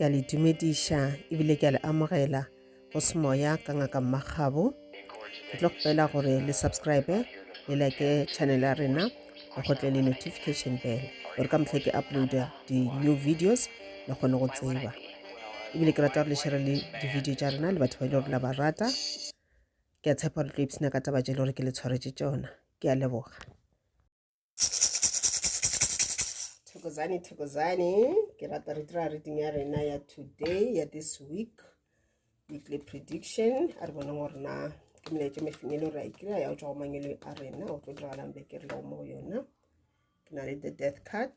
ke a le dumediša ebile ke a le amogela go semoya ka ngaka mmagabo ke tlo kgopela gore le subscribe le like channel ya rena le gotle le notification bell gore ka motlha ke uploada di-new videos le kgone go tseba ebile ke rata gore le shere le di-video tša rena le batho ba e le gore la ba rata ke a tshepa gore tlo ipsena ka taba tše le gore ke le tshwaretše tšona ke a leboga thokozane thokozane ke rata re dira reading ya rena ya today ya this week weekly prediction a re bone gore na ke melaetso mefeng e le gore a ikira ya go tswa go mangelo a rena o tlo diragalang beke re lego mo go yona ke na le the death card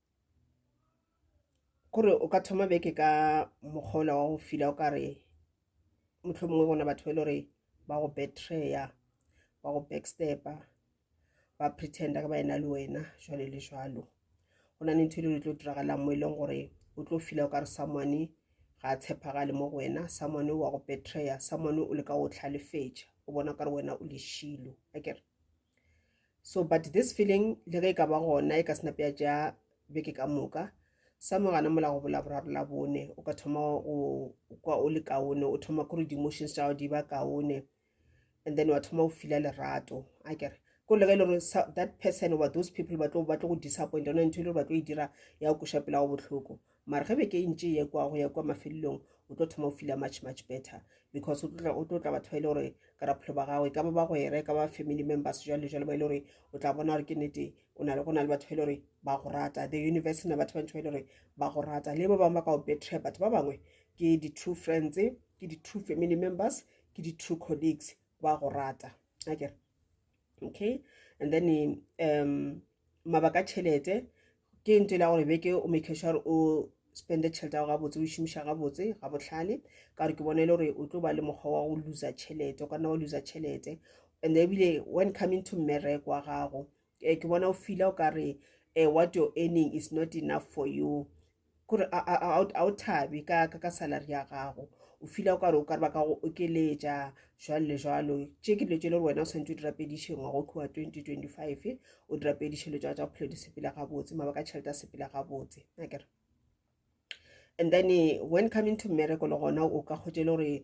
Kore o ka thoma beke ka mokgwa ola wa go fila o kare mohlomongwe bona batho ba e le gore ba go betray-a ba go backstep-a ba pretender ba ena le wena jwalo le jwalo go na le ntho e le gore e tlo diragalang mo e leng gore o tlo fila o kare someone ga a tshepagale mo go wena someone wa go betray-a someone o leka go tlhalefetša o bona o kare wena o leshilo akere so but this feeling le ge e ka ba gona e ka se nape ya tša beke ka moka sa mogana mola go bola boraro la bone o ka thoma o kwa o le kaone o thoma kore di-emotions tša di ba kaone and then wa thoma o fila lerato a kere ko le ge e le gore that person oba those people ba tlo go disappoint yone ntho e le gore ba tlo e dira ya o koša pela go botlhoko mara ge beke e ntše ye kwa go ya kwa mafelelong o tlo thoma o fila much much better because o tlo tla batho ba e le gore ka raphelo ba gago e ka ba bagwera e ka ba family members jalo le jalo ba e le gore o tla bona gore ke nete go na le go na le batho ba e le gore ba go rata the universe na batho ba ntho ba e le gore ba go rata le ba bangwe ba ka go betray batho ba bangwe ke di-true friends ke di-true family members ke di-true colleagues ba go rata akere okay and then um mabaka tšhelete ke ntho e la gore beke o make sure o spende tšhelete yago gabotse o šomiša gabotse ga botlhale ka gore ke bone e le gore o tlo ba le mokgwa wa go loser tšhelete o ka nna wa loser tšhelete and ebile when coming to mmereko wa gago um ke bona o feela o ka re um what your earning is not enough for you kore a o thabe ka ka ka salary ya gago o fila o kare o kare ba ka go okeletša jwalo le jwalo tše ke dilo tše le gore wena o tshwanetse o di rapediše ngwago ke wa twenty twenty five o di rapediše dilo tša tsa bophelo di sepela gabotse mabaka a tšhelete a sepela gabotse nakere and then when coming to mmereko le gona o ka kgotše le gore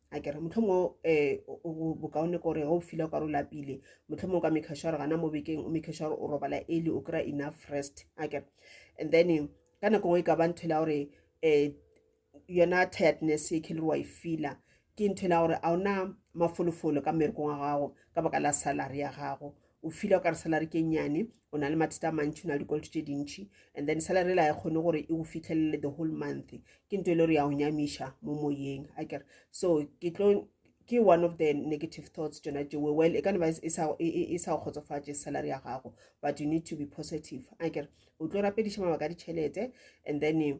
a kere motlhomo um bokaone kore o file o kare o lapile motlhomo o ka make sure gana mo bekeng o make sure o robala ele o kry-a enough rest a kere and then ka nako ngwe e ka ba ntho ela gore um yona tiredness e khelere wa e fila ke ntho ela gore a ona mafolofolo ka mmerekong wa gago ka baka la salary ya gago o fila o ka re salary ke nnyane o na le mathata a mantši o na le dikoloto tše dintšhi and then salary la ya kgone gore e go fitlhelele the whole month ke nto e le gore ya go nyamiša mo moyeng a kere so ke tlo ke one of the negative thoughts tsona tšewe well e ka neba e sa e, e, e go kgotsofatše salary ya gago but you need to be positive a kere o tlo rapediša mabaka a ditšhelete and then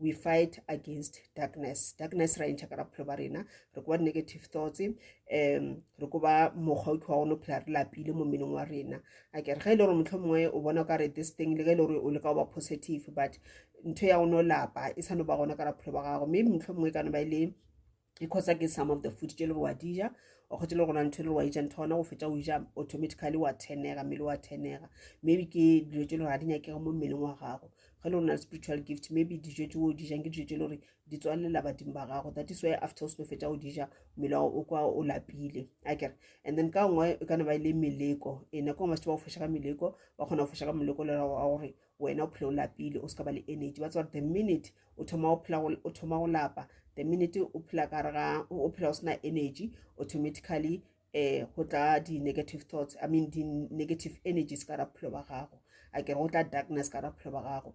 we fight against darkness darkness ra entšha ka ra bophelo ba rena re koba di-negative thoughts um re koba mokgwa o ke wa gone o phela re lapile mo mmeneng wa rena a kere ge e le gore motlho mongwe o bona o ka re this thing le ge e le gore o le ka goba positive but ntho ya gone o lapa e sa no ba gona ka ra bophelo ba gago mme motlho mongwe e ka no ba e le because ke some of the food tše le wa dija o kgotse le gona ntho le wa ija ntho gona go fetsa o ja automatically wa tenega mmele wa tenega maybe ke dilo tše le gore ga di nyakega mo mmeleng wa gago ge le rona spiritual gift maybe dijo tse o dijang ke dijo tse le gore di tswalela badimo ba gago that is why after o seno fetsa o dija mmele wa o kwa o lapile a kere and then ka nngwe e kana ba e le meleko e nako ngwe ba se ba go foša ka meleko ba kgona go foša ka moleko le gore wena o phela o lapile o se ka ba le energy ba tseba the minute o thoma o phela o thoma go lapa the minute o phela ka re ga o phela o sena energy automatically eh go tla di-negative thoughts i mean di-negative energies ka ra bophelo ba gago a kere go tla darkness ka ra bophelo ba gago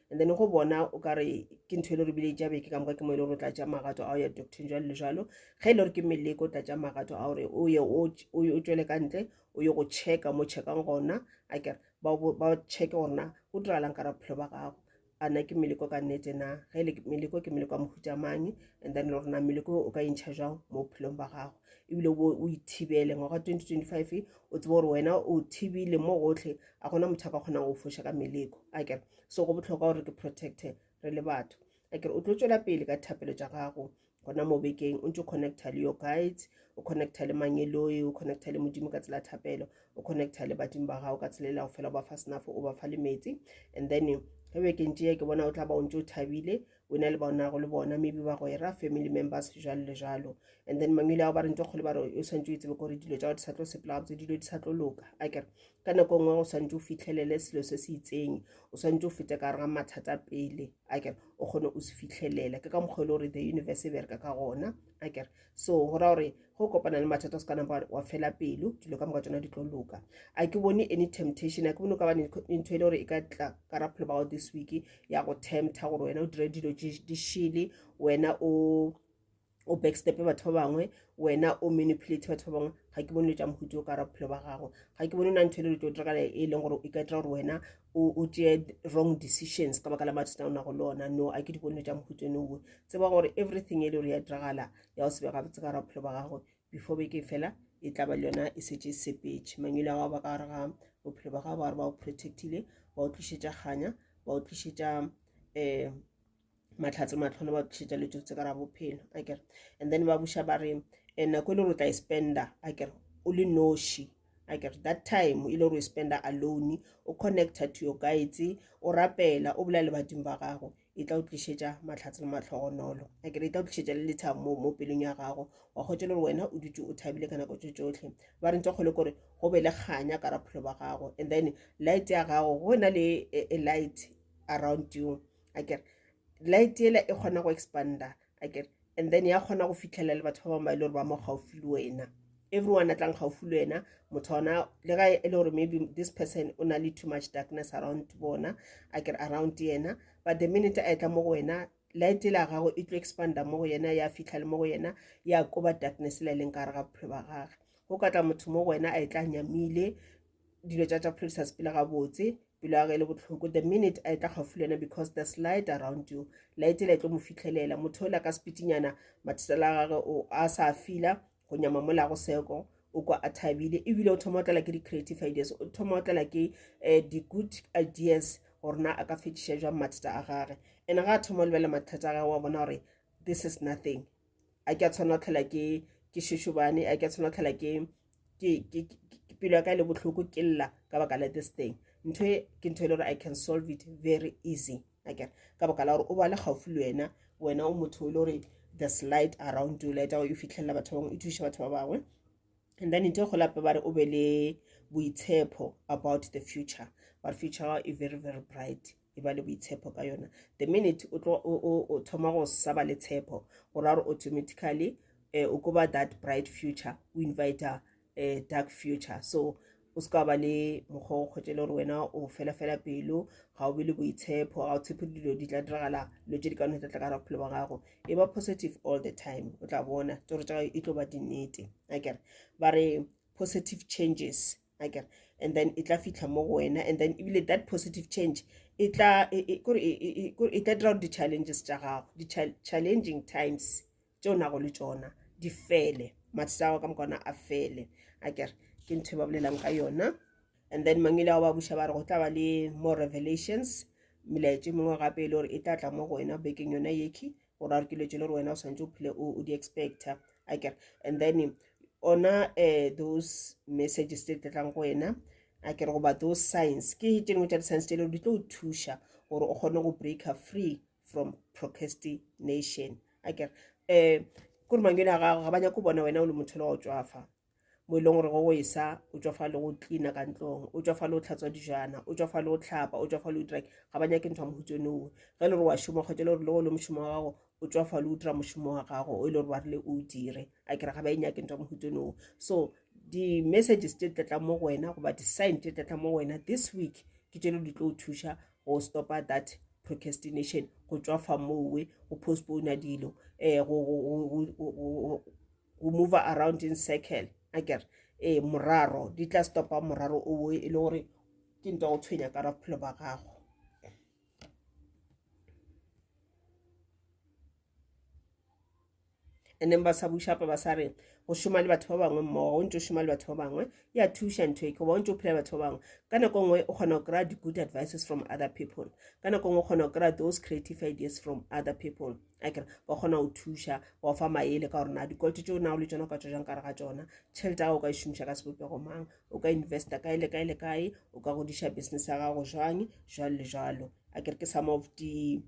and then go bona o ka re ke ntho e le gore bile ja beke ka moka ke mo e le gore o tla tša magato a o ya doctor jalo le jalo ge e le gore ke meleko o tla tša magato a gore o ye o tswele ka ntle o ye go checka mo checkang gona a kere ba checke gorena go diragalang ka ra bophelo ba gago a na ke meleko ka nnete na ge e le meleko ke meleko ya mohuta mang and then le gorena meleko o ka entšha jang mo bophelong ba gago ebile o ithibele ngwaga 2025 o tsebe gore wena o thibile mo gotlhe a gona motho a ka kgonang go foša ka meleko a kere so go botlhokwa gore ke protecte re le batho a kere o tlo tswela pele ka thapelo tša gago gona mo bekeng o ntse o connecta le your guides o connecta le mangeloi o connecta le modimo ka tsela thapelo o connecta le badimo ba gago ka tsela e le go fela o ba fa senafo o ba fa le metsi and then ge bekeng tšea ke bona o tla ba o ntse o thabile o na le bonago le bona maybe ba go e ra family members jalo le jalo and then mangwele ao ba re ntse kgole ba re o swantse o itsebe gore dilo tsa go di sa tlo sepela gabotse dilo di sa tlo loka a kere ka nako e nngwe go swantse o fitlhelele selo se se itseng o swantse o fete ka rega mathata pele a kere o kgone o se fitlhelele ke ka mokgwa e le gore the universe e bereka ka gona a kere so go ra gore go kopana le mathata o se ka napa wa fela pelo dilo ka moka tsona di tlo loka a ke bone any temptation a ke bone o ka ba ntho e le gore e ka tla ka raphelo bao this week ya go tempta gore wena o dire dilo di shele wena o o backstepe batho ba bangwe wena o manipulate batho ba bangwe ga ke bone le tša mohuti o ka raphelo ba gago ga ke bone o na ntho e le dilo tlo dira e leng gore e ka dira gore wena o tšee wrong decisions ka baka la mathata o nago le ona no a ke di bone tša mohutone owe tseba gore everything e le gore ya diragala ya o sebe gabotse ka raphelo ba gagwe before beke fela e tla ba le yona e setse e sepetše mangwele a gago ba ka gare ga bophelo ba gago ba gore ba o protectile ba o tlišetša kganya ba o tlišetša um mahlatse matlhone ba tšhetša le tse ka ra bophelo a kere and then ba buša ba re eh, nako e le gore o tla e spenda a kere o le noši a kere that time e le gore o e spenda alone o connecta to your guides o rapela o bolela le badimo ba gago e tla o tlišetša mahlatse le matlhogonolo a kere e tla o tlišetša le lethabo mo mo pelong ya gago wa kgotse le gore wena o dutse o thabile ka nako tse tsotlhe ba re ntse kgole kore go be le kganya ka raphelo ba gago and then light ya gago go na le a light around you a kere light ela e kgona go expanda a kere and then ya kgona go fitlhelela le batho ba bangwe ba e le gore ba mo gaufi le wena everyone a tlang gaufi le wena motho ona le ga e le gore maybe this person o na le too much darkness around bona a kere around yena but the minute a etla mo go wena light la gago e tlo expanda mo go yena ya fitlha le mo go yena ya koba darkness le leng ka re ga bophelo ba gage go ka tla motho mo go wena a e tla nyamile dilo tsa tsa bophelo di sa sepele gabotse pelo ya ge e le bohloko the minute a e tla gaufi le yena because there's light around you light e le tlo mo fitlhelela motho o la ka sepitinyana mathesela a gage o a sa fila go nyama mola go seko o kwa a thabile ebile o thoma o tlala ke di-creative ideas o thoma o tlala ke um eh, di-good ideas gore na a ka fetiša jwang mathata a gage and ga a thoma o lebelela mathata a gage wa bona gore this is nothing a ke a tshwana go tlhola ke ke šošobane a ke a tshwana go tlhola ke pelo ya ka e le bohloko ke lla ka baka la this thing ntho e ke ntho e le gore i can solve it very easy akere ka baka la gore o ba le gaufi le wena wena o motho o le gore the slide around you light e fitlhelela batho ba bangwe e thuša batho ba bangwe and then ntho e golape ba re o be le boitshepo about the future but future e very very bright e ba le boitshepo ka yona the minute o tlo o thoma go sa ba le tshepo go ra gore automatically eh, o koba that bright future o invite a eh, dark future so o se ka ba le mokgwa o kgwetse le gore wena o felafela pelo ga o be le boitshepo ga o tshepo dilo di tla diragala dilo tse di ka no tla tla ka ra bophelo ba gago e ba positive all the time o tla bona tsoro tsa gago e tlo ba dinnete akere ba re positive changes akere and then e tla fitlha mo go wena and then ebile that positive change e tla e, e, e, e tla dira gore di-challenges tša gago di-challenging times tšeo nago le tsona di fele mathata a gago ka mokona a fele akere ke ntho e ba bolelang ka yona and then mang ile go ba buša ba re go tla ba le more revelations melaetše mengwe gape e le gore e tla tla mo go wena bekeng yona yekhi gore a re ke dilo tse le gore wena o santse o phile o di expecta a kere and then ona uh, those messages tse tletlang go wena a kere goba those science ke tse dingwe tša di-science tse le gore di tlo o thuša gore o kgone go breaker free from procrastination a kere um kore mangwele a gago ga ba nyako bona wena o le motho le wa o tswafa mo e leng gore go go esa o tswa fa le go cleana ka ntlong o tswa fa le go tlhatswa dijana o tswa fa le go tlhapa o tswa fa le utrang ga ba nyake ntho ya mohutso nowe ge le gore wa šoma kgwetsa le gore le go le mošomo wa gago o tswa fa le utra mošomo wa gago o e le gore ba rile o dire a kere ga ba e nyake ntho ya mohutso nowe so di-messages tse tlatlang mo go wena goba di-sign tse tlatlang mo go wena this week ke tšelo di tlo o thuša go stopa that procrastination go tswa fa mowe go postpona dilo um o move around in circle a kere ee moraro di tla stopa moraro o boe e le gore ke nto go tshwenya ka bophelo ba gago and then ba sa bušapa ba sa re go šoma le batho ba bangwe mmogo o ntse o šoma le batho ba bangwe e a thuša ntho e goba o ntse o phela batho ba bangwe ka nako nngwe o kgona go kry-a di-good advices from other people ka nako nngwe o kgona go kry-a those creative ideas from other people akere ba kgona go thuša ba ofa maele ka gore na dikoloto tšeo na o le tsona o ka tswa jang kare ga tsona tšhelete ya o ka e šomiša ka sebopego mang o ka investa kae le kae le kae o ka godiša business ya gago jwang jwalo le jwalo a kere ke some of di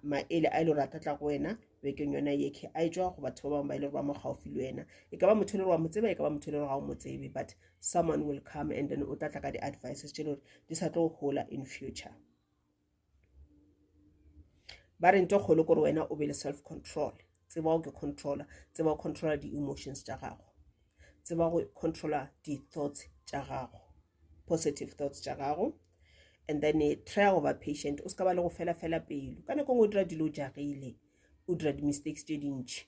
maele a e le gore a ka tla go wena bekeng yona ye ke a e tswa go batho ba bangwe ba e le gore ba mo gaufi le wena e ka ba motho e le gore wa mo tseba e ka ba motho e le gore ga o mo tsebe but someone will come and then o tla tla ka di-advices tše e le gore di sa tlo gola in future ba re nto kgolo gore wena o be le self control tseba o ke controller tseba o controller di-emotions tša gago tseba go controller di-thoughts tša gago positive thoughts tša gago and then eh, try go ba patient o se ka ba le go fela fela pelo ka nako ngwe o dira dilo jagile o dira di-mistakes tše dintšhi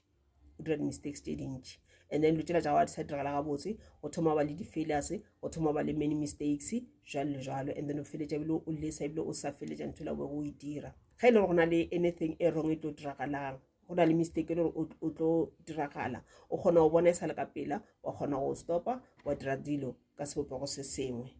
o dira di-mistakes tse dintši and then lo tsela tsa gago di sa diragala gabotse o thoma ba le di-failures o thoma ba le many mistakes jalo le jalo and then o feletša ebile o lesa ebile o sa feletša ntho la bego o e dira ga e le gore go na le anything e wrong e tlo diragalang go na le mistake e le gore o tlo diragala o kgona go bona e sa le ka pela wa kgona go stopa wa dira dilo ka sebopego se sengwe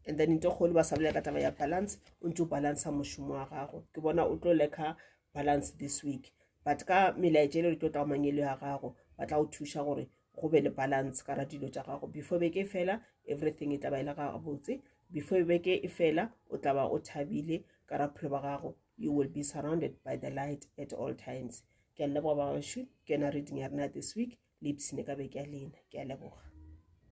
and then nto kgolo ba sa bolela ka taba ya balance o ntse o balancea mošomo wa gago ke bona o tlo leka balance this week but ka melaetša ele re tlo tla mangelo ya gago ba tla go thuša gore go be le balance ka ra dilo tša gago before beke e fela everything e taba e le ga gabotse before beke e fela o tla ba o thabile ka ra phelo ba gago you will be surrounded by the light at all times ke a leboga ba bašwi ke yona reading ya rena this week le ipsene ka beke ya lena ke a leboga